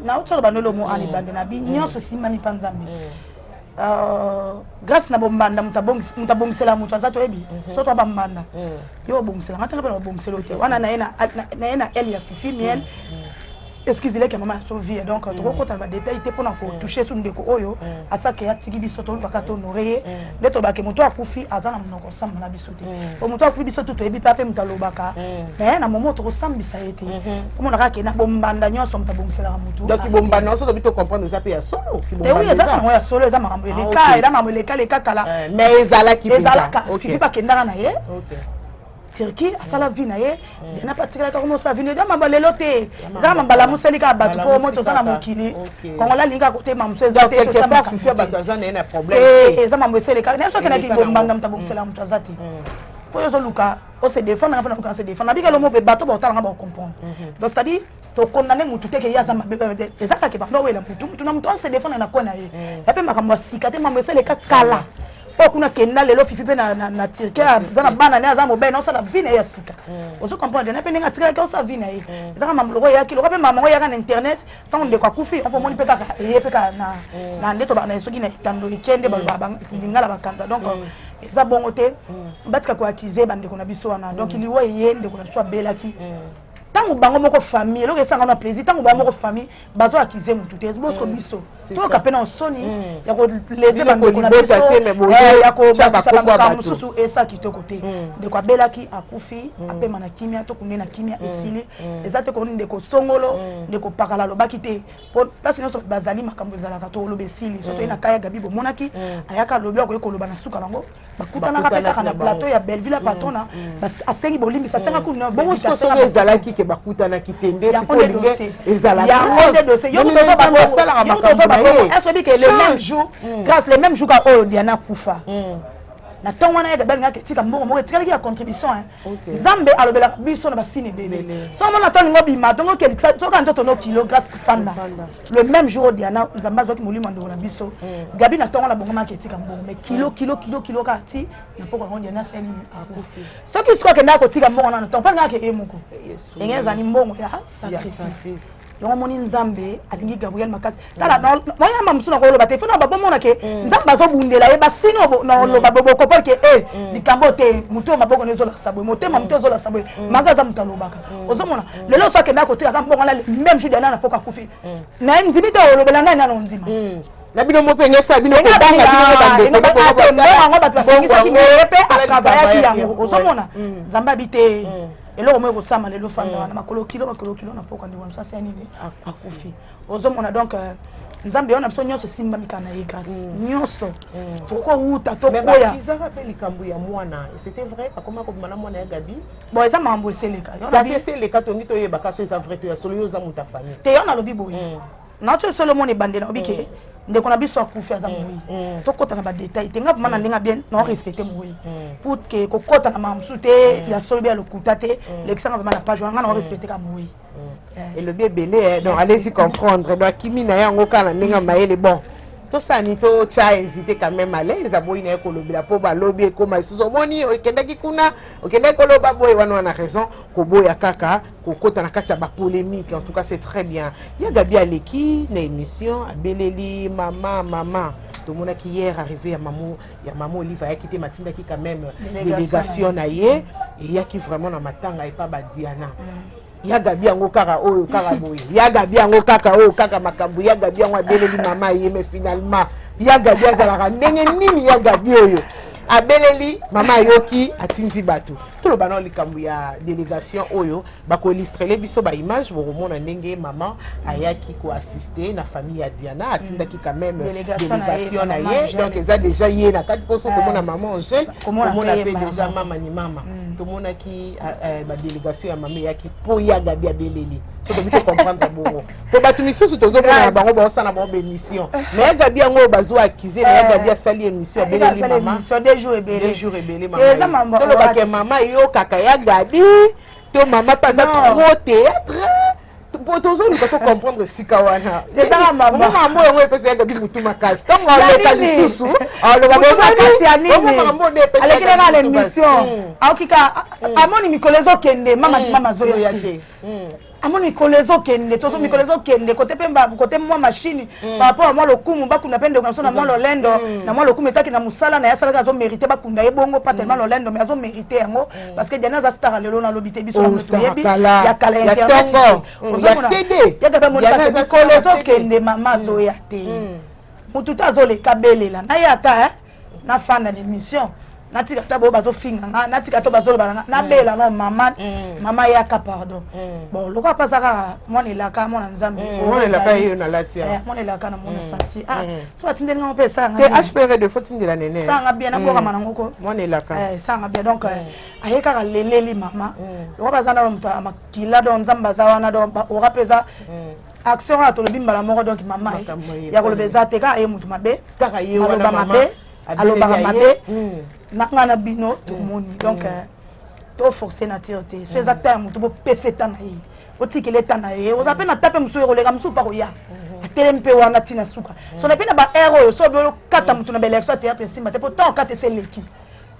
nauti oloba nde lomo ana mm. ebande na bi mm. nyonso esimbami mpa nzambe euh, grâce na bombanda moto abongisela moto aza toyebi mhm. soto bambanda yo obongisela ngai tanga mpe na babongisela yo te wana na ye na ele ya fifi miel excuse leke mama so vie donc mm. toko kota ba détail te pona ko mm. toucher su ndeko oyo mm. asaka ya tiki biso to baka to honorer ye nde to baki moto akufi aza na monoko samba na biso te po moto akufi biso tuto ebi pape moto alobaka mais na momo toko sambisa ye te komo na kake na bombanda nyonso moto abongisela ka moto donc bombanda nyonso tobi to comprendre eza pe ya solo ki bombanda oui eza na ya solo eza makambo eleka eza makambo eleka leka kala mais ezalaki ezalaka fifi bakendaka na ye okay turquie asala vie na ye diana mpe atikalaka koma osala vino eza maba lelo te eza mabala mosali kaka bato mpo moto oza na mokili kongola alingi kaka kotema mosu eza te eza mambo eselekaka naye soki naki bombanda moto abongiselaka moto aza te mpo yo ozoluka ose defendre nga mpe naluka nase defendre nabika lomo mpe bato baotalanga baocomprendre donc c'est à dire to condamne mutu te ke ye aza mabe eza kaka ke banda owela mutu mutu na mutu ase defendre na coin na ye mm. ya mpe makambo ya sika te mambo esaleka kala oyo kuna kenda lelo fifi mpe na turki aza na bana ne aza mobali na osala vi na ye ya sika mm. ozo comprendre na mpe ndenge atikalaki osala vi na ye mm. ezaka mambo loko eyaki loka mpe mama ngo eyaka na internet ntango ndeko akufi mpo omoni mpe kaka eye mpe kaka na nde tobaka na ye soki na etando eke nde baloba lingala bakanza donc eza bongo te batika koakize bandeko na biso wana donc liwa eye ndeko na biso abelaki ntango bango moko famille eloko esanga na plaisir ntango bango moko famille bazo akize motu te bosco mm. biso toyoka mpe na nsoni mm. ya koleze bandeko na biso eh, ya kobakisa bamakambo mosusu esa kitoko te mm. ndeko abelaki akufi apema na kimia tokunde na kimia esili eza te koni ndeko songolo ndeko pakala alobaki te mpo place nyonso bazali makambo ezalaka toloba esili soto ye na kaya gabi bomonaki ayaka alobi akoki koloba na suka nango bakutanaka mpe kaka na plateau ya belleville ya patrona asengi bolimbisi asenga kuna bongo siko soki ezalaki ke bakutanaki te nde sikolinge ezalaosalaka makambo na ye esobi ke le même jour grâce le même jour ka oyo diana kufa na ntongo wana yeke balingaki etika mbongo moko etikalaki ya contribution nzambe alobelaka biso na basini ebele so mona to alingi obima dongo okelisa soka nzoto no kilo grâce kofanda le même jour diana nzambe azwaki molimo ya ndeko na biso mm. gabi na ntongo na bongo maki etika mbongo mais kilo mm. kilo kilo kilo kaka ti na mpoko yango diana asali nini akufi soki sikoyo akendaka kotika mbongo nano ntongo mpo alingaka ke ye moko enge ezali mbongo ya sacrifice yango omoni nzambe alingi gabriel makasi tala nayamba mosusu nakoloba te fona babomona ke mm. nzambe azobundela ye basini noloba mm. bobokopol ke e eh, mm. likambo te motu oyo maboko na ezolakisa boye motema motu ezolakisa boye manga aza moto alobaka ozomona lelo oso akendaka kotikaka mbongo na meme jour diana na mpoka akufi naye ndimi te olobela ngai nano ondima na bino moko enyesa bino kobanga bino bandokoyango bato basengisaki meye mpe atravayaki yango ozomona nzambe abi te eloko moko ekosama lelo fanda mm. wana makolo kilo makolo kilo na mpoka ndeko na msasi ya nini akufi ozomona donc euh, nzambe yo na biso nyonso esimbami kaka na ye grâce mm. nyonso mm. tokowuta tokoyaizaka mpe likambo ya mwana c'était vrai akoma kobima na mwana ya gabi bon eza makambo eseleka eseleka tongi toyeba kasi eza vrai to ya solo yo oza moto ya famille te yo nalobi boye naoki oyo solo omona ebandela obi ke ndeko na biso akufi aza moyi tokɔta na badetail te nga vraimen na ndenge bien nao respecte moyi pour ke kokɔta na makambo mosusu te ya solo be ya lokuta te lekisa nga vraimen na page wana nga nao respecte ka moyi elobi ebele donc allez-y comprendre donc akimi na ye yango kaka na ndenge ya mayele bon tosani totya invité quand même alaise aboyi na ye kolobela mpo balobi ekoma lisusu omoni okendaki kuna okendaki koloba boye wana wana raison koboya kaka kokota na kati ya bapolemique en tout cas c'est très bien ya gabi aleki na émission abeleli mama mama tomonaki hier arrivé ya mamo ya mamo olive ayaki te matindaki quand même délégation na ye eyaki vraiment na matanga epa badiana mm. ya gabi yango kaka oyo kaka boye ya gabi yango kaka oyo kaka makambo ya gabi yango abeleli mama ye mais finalement ya gabi azalaka ndenge nini ya gabi oyo abeleli mama ayoki atindi bato toloba nao likambo ya délégation oyo bakoilistrele biso baimage bokomona ndenge mama ayaki koassiste na famille ya diana atindaki quand même délégation na ye donc eza déjà ye na kati mposo komona mama angèle komona mpe déjà mama ni mama mm. tomonaki euh, euh, badélégation ya mama eyaki mpo ya gabi abeleli soki obi tocomprendre bongo po bato misusu tozomona na bango baosala bango baémission mais gabi yango oyo bazwa akize na eh. gabi asali émission abeleli mamajour ebele mamatolobaka eh, mama eyokaka ya gabi to mama mpe aza trop théâtre po tozoluka to comprendre esika wana ezanga mamambo yango epesa ya gabi motu makasi ntango aloka lisusu aloka makasi ya ninialekelaka na émission aokika amoni mikolo ezokende mama mama azoya te amo mikolo ezokende tozo mm. mikolo ezokende kote mpe kote mwa mashini mm. par rapport ya mwa lokumu bakunda mpe ndeko na biso na mwa mm. lolendo na mwa lokumu etaki na mosala na ye asalaki azomérite bakunda ye bongo pas tellement lolendo mais azomérite yango parce que diana aza star lelo nalobi te biso oh, toyebi ya kala ya internet ya cd ya kaka mikolo ezokende mama azoya te motu te azolela belela na ye ata na fanda na émission natika ata boyo bazofinga nga natika to bazoloba na nga nabela no mama mama yaka pardon bon lokola mpe aza kaka mwana elaka mwana nzambe mwana elaka yeyo nalati mwana elaka na mwana santi so atindeli ngango mpe esanga te hpr de fo tindela nene esanga bien nabwakama nango ko mwana elaka esanga bien donc aye kaka leleli mama lokola baza na moto ya makila donc nzambe aza wana donc ora mpe eza action kaka tolobi mbala moko donc mama ya koloba eza te kaka ye motu mabe aloba mabe alobaka mabe hmm. na ngai na bino hmm. tomoni hmm. donc euh, toforce nature te so eza ta ya motu bopesa eta na ye otikela eta na ye oza mpe na ta mpe mosusu ekoleka mosusu mpa koya atelemi mpe wana ntina suka so na mpe na baheure oyo so obi okata motu na baelection ya théâtre esimba te mpo ntango okata ese eleki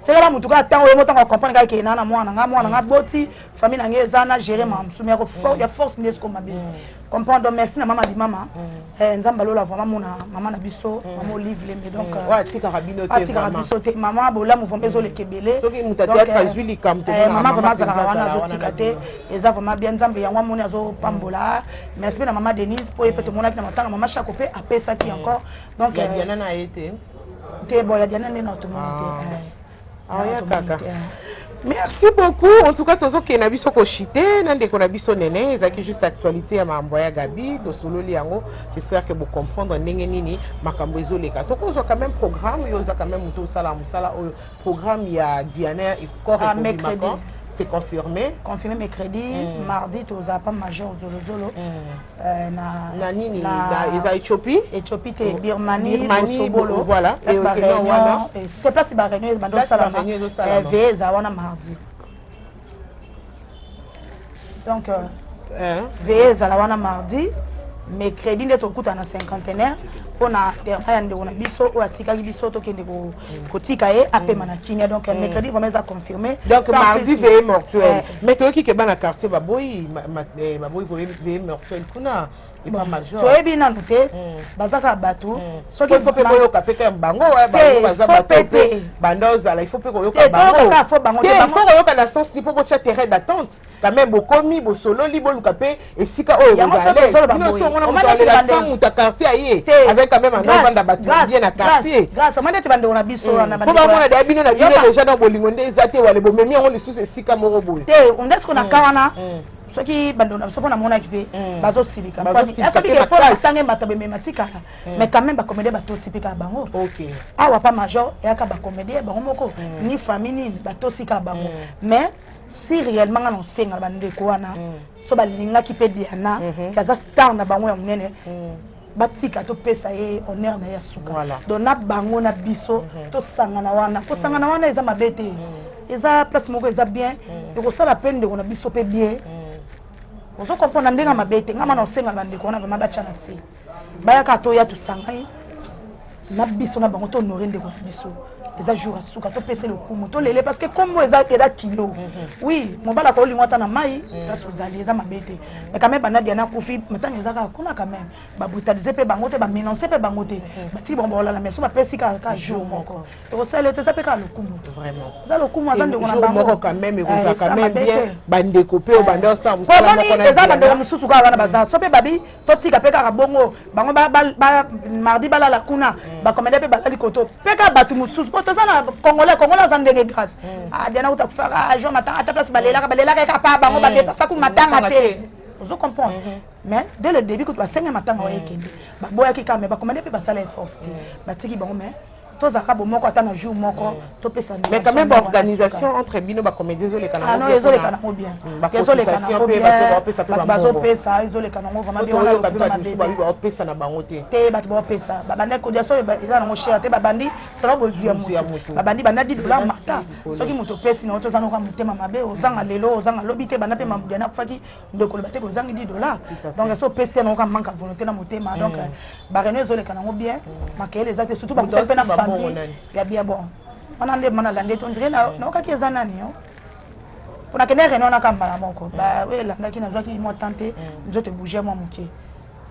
tikala motu kaka ntango yo motango acomprendre kaka ekee na na mwana nga mwana nga mm. boti famille na ngai eza na gere ma mosumi ya mm. force nde esiko mabe mm. comprendre donc merci na mama di mama eh, nzambe alola vraiment mona mama na biso mama olive lembe donc euh, atikaka bino te atikaka biso te mama bolamu vraiment ezoleka ebele euh, mama vraiment azalaka wana azotika te eza vraiment bien nzambe yango amoni azopambola merci mpe na mama denise mpo ye mpe tomonaki na matanga mama shako mpe apesaki encore donc euh, te bon ya diana nde na otomoni te ah. eh. ah, ya kaka eh. merci beaucoup en tout cas tozokende na biso koshite na ndeko na biso nene ezalaki juste actualité ya makambo ya gabi tosololi yango j'espère que bocomprendre ndenge nini makambo ezoleka tokozwa quand même programme yo oza quand même moto osala mosala oyo programme ya diana ekor ah, c'est confirmé confirmé mercredi mm. mardi tozala pa major zolozolo mm. Euh, na, na nini na, na, eza ethiopie ethiopie te birmanie bosobolo voilà place ba réunion c'était place ba réunion bando salama ve eza wana mardi donc euh, hein? ve ezala wana mardi mais crédit nde tokuta na cinquantenaire mpo na terrain ya ndeko na biso oyo atikaki biso tokende kotika ye apema na kimia donc mercredi vraiment eza confirmé donc mardi veye mortuel mais toyoki ke bana quartier baboyi eh, baboyi veye mortel kuna epa major toyebi nanu te hmm. baza kaka bato hmm. soki faut mpe boyoka mpe kaka bango bango baza bato mpe banda ozala il faut mpe koyoka bango te il faut koyoka na sens ni mpo botya terrain d'attente quand même bokomi bosololi boluka mpe esika oyo ozaleomoto quartier aye azali quand même anavanda bato bien na quartieromandete bandeko na biso hmm. wanapo bamona deya bino na bino deja na bolingo nde eza te wale bomemi yango lisusu esika moko boye te ondesiko na hmm. ka wana hmm. soki bandeko na biso mpo namonaki mpe bazosilika atange bato bemema tikala mais quand même bacomédien batosi mpe kaka bango awa pa major eyaka bacomédien bango moko ni famille nini batosi kaka bango mais si réellement nga na osenga na bandeko wana so balingaki mpe diana mhm. ke aza star na bango ya monene mhm. batika topesa ye honneur na ye ya suka voilà. donc na bango na biso mhm. tosangana wana kosangana wana eza mabe te eza place moko eza bien ekosala mpe ndeko na biso mpe bien ozo comprendre ndenge mabe te ngai mana osengala bandeko wana vraimen batya na se bayaka toya tosanga ye na biso na bango tohonore ndeko na biso eza jour ya suka topese lokumu tolele parce que kombo eza eza kilo mhm. oui mobali akolingo ata na mai mhm. place ozali eza mabe te mais quand même banadia na kufi ntango eza kaka kuna quand même babrutalise mpe bango te bamenance mpe bango te mhm. batiki bango baolala mais so bapesi kaka ka jour moko ekosala yo te eza mpe kaka lokumu eza lokumu aza ndeko na bango quand même ekozala eh, quand même bien bandeko mpe obanda osala mosala moko na eza bandeko mosusu kaka wana baza so mpe babi totika mpe kaka bongo bango ba, ba, ba, mardi balala kuna mm. bakomende mpe balali koto mpe kaka bato mosusu mpo toza na congolais congolais aza ndenge grâce mm. ah, diana uta kufaka jo matanga ata place balelaka balelaka eka pa bango mm. badepasaku matanga te ozo comprendre mm -hmm. mais dès le début kutu basenga matanga oyo ekende baboyaki kaka mais bakomande mpe basala efforce te batiki bango mais tozalaka bomoko ata na jour moko topesa mais quand même baorganisation entre bino bacomédie ezoleka ah nango ezoleka nango bien hmm, ezoleka nango bien bato bazopesa ezoleka nango vraimentbaopesa na bango te te bato baopesa babandaki kodia so eza nango cher te babandi selo bozwi ya moto babandi banda didola mata soki moto opesi nango toza noka motema mabe ozanga lelo ozanga lobi te banda mpe mamudiana akufaki nde koloba te kozangi 10 dollars donc esi opesi te yango ka manque ya volonté na motema mm. donc bareno ezoleka nango bien mm. makeyele eza te surtout bakuta mpe na famille ya bien bon wana nde mana lande to ndire mm. naokaki eza nani yo mpo nakende reno wana ka mbala moko oyo elandaki nazwaki mwa temps te nzoto ebouge mwa moke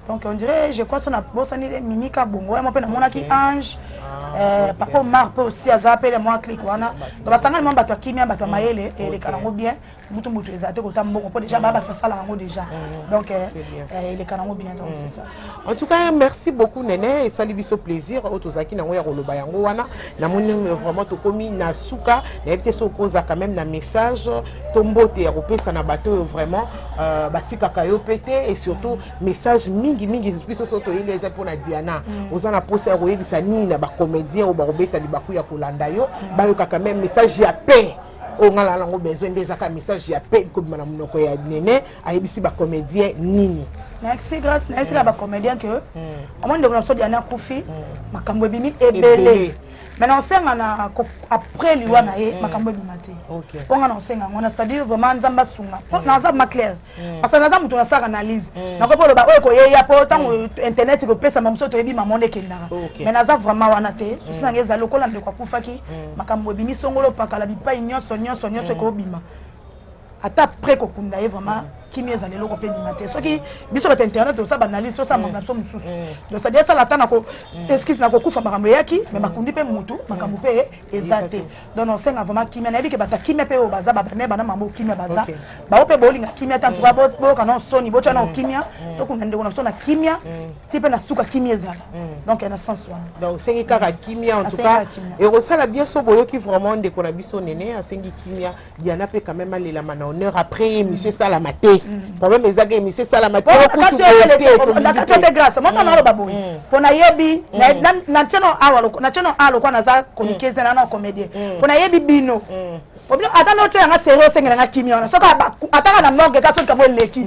donc on dirait je crois so nabosani mimi ka bongo yamo mpe namonaki ange ah, euh, papa omar mpe osi aza mpe le mwa clike wana donc basangani mwa bato ya kimia bato ya mayele elekana yango bien butu moto ezala te kota mbongo mpo déjà baa bato basala yango déjà mm. donc euh, euh, eleka nango bien donc c'est mm. ça en tout cas merci beaucoup nene esali biso plaisir oyo tozalaki nango ya koloba yango wana namoni euh, vraiment tokomi na suka nayebi te soki oza quand même na message to mbote ya kopesa na bato oyo vraiment batikaka yo mpe te et surtout message mingi mingi biso soki toyeli eza mpo na diana mm. oza na mposa ya koyebisa nini na bacomédien oyo bakobeta libaku ya kolanda yo bayokaka même message ya paix oyo ngai naa nango besoin nde ezaka message ya pe kobima na monoko ya nene ayebisi bacomédien nini merci grace nayebisaka hmm. bacomédien ke hmm. omoni ndeko na biso diana akufi hmm. makambo ebimi ebele mais naosenga na après liwa na ye makambo ebima te mpo ngai naosenga yango na c'est-à-dire vraiment nzambe asunga mpo naza ma claire mm. parce que naza moto nasalaka analyse mm. nakoki oloba oyo ekoyeya mpo ntango mm. internet ekopesama mosusu toyebi mamonde ekendaka okay. mais naza vraiment wana te mm. susi nanga eza lokola ndeko akufaki mm. makambo ebimi songolo pakala bipai nyonso nyonso nyonso mm. ekobima ata pre kokunda ye vraiment mm. kimia ezali eloko mpe ndima te soki biso bato internet tosala banalyse tosala makambo na biso mosusu mm. donc sadi asala ata na ko mm. eskise na kokufa makambo eyaki me mm. bakundi mpe motu makambo mpe eza te donc osenga vraiment kimia nayebi ke bato ya kimia mpe oyo baza babane bana mama okimia baza bao mpe bolinga kimia te antuka mm. boyoka nao soni botya nao mm. kimia mm. tokunda ndeko na biso na kimia ti mpe na suka kimia ezala donc na sens wana donc osengi kaka kimia en tout cas ekosala bien so boyoki vraiment ndeko na biso nene asengi kimia diana mpe quand même alelama na honneur après émission esalama te problème ezaka émission esalama te okutu boye te, tolingi te. nakatote grâce moko naloba boye Mm. mpo nayebi na- na- na ntieno awa loko- na ntieno awa lokola naza komikeze na na comédien mpo nayebi bino Obino- ata notyela nga serie osengela nga kimia wana soki aba- ataka na morgue ka soki yango eleki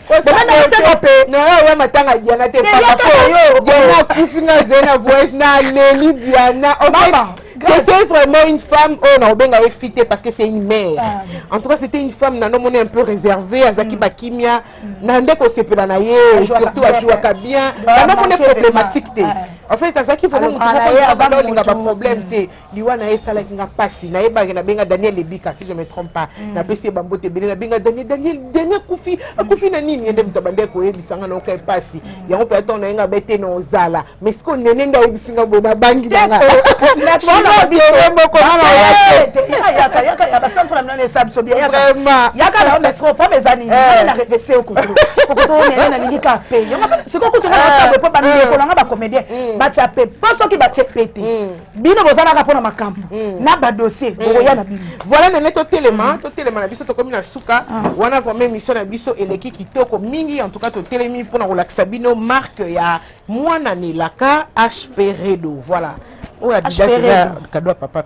naoya matanga diana te diana akufi nga zee na voyage na leli diana c'était vraiment une femme oyo nakobenga ye fi te parce que c'est une mère ah, en tout cas c'était une femme nano moni un peu réservée azalaki mm. bakimia mm. na nde kosepela na ye surtout ajouaka bien nano moni problématique te en fait azalaki vraiment motu moko aza olinga baproblème te liwa na ye esalaki nga mpasi nayebaki nabenga daniel ebika si je me trompe pas mm. napesi ye bambote ebele nabenga daniel daniel daniel akufi akufi na nini ye nde moto abandaki koyebisa nga naokai mpasi mm. yango mpe atango na ye nga bete na ozala mais sikoyo nene nde ayebisi nga boye nabangi nanga batia pe po soki batie pe te bino bozalaka mpo na makambo hmm. na badossier hmm. bokoya na bino voilà nene totelema hmm. totelema na biso tokomi na suka ah. wana vraiment émission na biso eleki kitoko mingi en tout cas totelemi mpo na kolakisa bino marque ya mwana nelaka hp redo voilà oyo adidas eza kado ya papa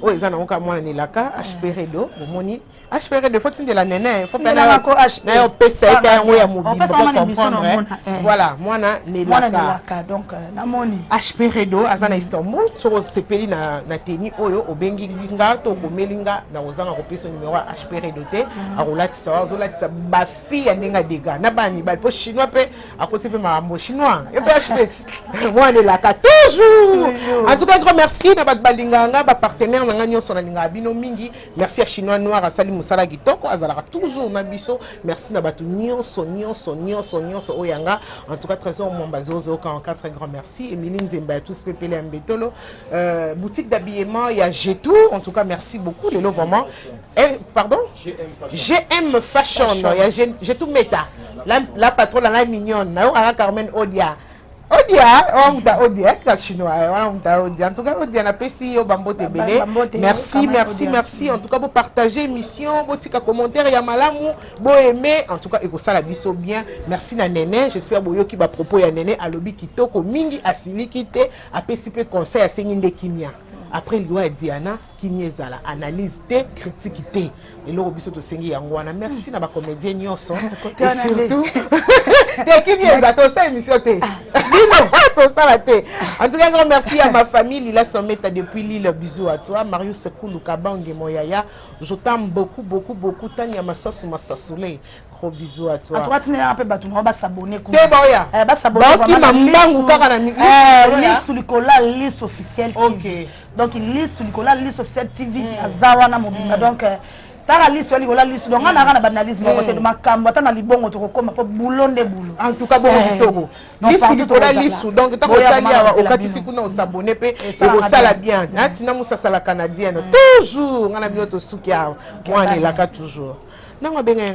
oyo eza nango kaka mwana nelaka hp redo bomoni HPR de faut tindela nene faut pena na ko HPR na yo pesa ita yango ya mobimba pesa mwana emission na mona eh. voilà mwana ne mwana ne laka donc euh, na moni HPR do aza na Istanbul soko sepeli na na teni oyo obengi nga to komeli nga na kozanga kopesa numero ya HPR do te mm. akolatisa wa azolatisa ba fille ya ndenge dega na bani ba po chinois pe akoti pe makambo chinois et pe HPR mwana ne laka toujours en tout cas grand merci na ba balinganga ba partenaires na nga nyonso na linga bino mingi merci ya chinois noir asali mosala kitoko azalaka toujours na biso merci na bato nyonso nyonso nyonso nyonso oyo yanga en tout cas trésor mwamba 0044 grand merci emili nzemba ya tous pepele ya mbetolo euh, boutique d'habillement ya jetou en tout cas merci beaucoup lelo vraiment eh, pardon gm fashion ya jetou meta la, la patro la ngai mignonne nayokaka carmen odia odia wamuta odia atika chinois eh, wana muta odia en tout cas odia napesi yo bambote ebele merci merci merci en tout cas bopartage émission botika commentaire ya malamu boaime en tout cas ekosala biso bien merci na nene j'espère boyoki bapropos ya nene alobi kitoko mingi asiliki te apesi mpe conseil asengi nde kimia après liwa ya diana kimia ezala analyse te critique te eloko biso tosengi yango wana merci na bacomédien nyonso et surtout te kimia eza tosala émission te ah, tosala te en tout cas grand merci à ma famille lila someta depuis lille bisous à toi marius kulu kabange moyaya je t'aime beaucoup beaucoup beaucoup tania masasu masasule gros bisous à toi. Atoka tina yanga pe batu na ba s'abonner kuna. Te boya. Eh ba s'abonner ba kima mbangu kaka na mi. Eh lisu likola lisu officiel. OK. Donc lisu likola lisu officiel TV mm. azawa na mobimba mm. donc euh, tala liso likola liso donc nga naka na banalyse moko mm. te makambo ata na libongo tokokoma mpo bulo nde bulo en tout cas bongo eh. kitoko lisu likola lisu donc ntango otali awa okatisi kuna osabone mpe ekosala bien ntina mosasala canadienne mm. toujours nga na bino tosuki awa mwana elaka toujours ntango abenga